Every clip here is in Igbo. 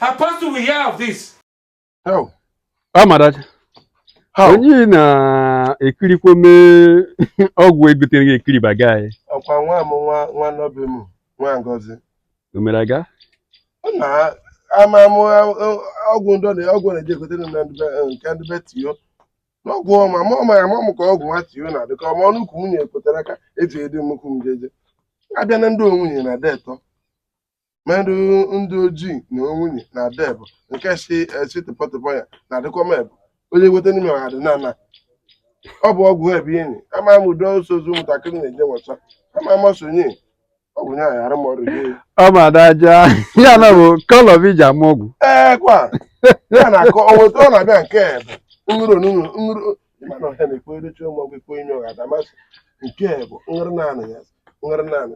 Apostle will hear of this. How? Amadachi. How? Onye na-ekirikwa mee ọgwụ egotere gị ekiri baga anyị. Ọkwa nwa m nwa nwa nọ be m nwa Ngozi. O mere aga? Na ama m ọgwụ ndọ na ọgwụ na-eji egotere m nke ndị be tiyo. N'ọgwụ ọma ma ọ mara ma m ka ọgwụ nwa tiyo na-adị ka ọma ọnụ ukwu nwunye ekwetara aka eji edi nnukwu m jeje. Abịa na ndị onwunye na detọ. mmadụ ndị ojii na onwunye na ada ebo nke si esi tụpọtụpọ ya na adịkwa m ebo onye weta n'ime ọha dị na-ana ọ bụ ọgwụ ebe enyi ama m udo ọsọ ozu ụmụntakịrị na-enye nwata ama m ọsọ nye ọ bụ nye anyị arụ m ọrụ gị ọ ma daja ya na ọ bụ color iji ama ọgwụ ee kwa ya na-akọ ọ nweta ọ na-abịa nke ebe nrụrụ nrụrụ nrụrụ ịmana ọhịa na-ekwe edochi ụmụ ọgwụ ekwe enyi ọha damasị nke bụ nrị naanị ya nrị naanị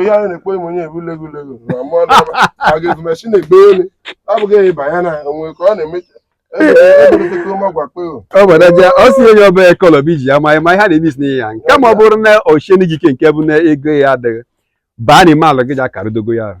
ihe anyị na-ekwe m onye ebu lego lego na mmụọ na-aba agịgụ mechi na-egbe elu abụghị ya ịba ya na onwe ka ọ na-emechi ebeleteke ụma gwakpe o ọ bụ daja ọ sị onye ọbụla color bụ iji ya ma ma ihe a na-eme isi n'ihe ya nke ma ọ bụrụ na ochieni gị ike nke bụ na ego ya adịghị baa n'ime ala gị ji akarudogo ya ahụ.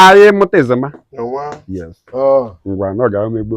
anyị mụta ezema ngwa na ọ ga-emegbu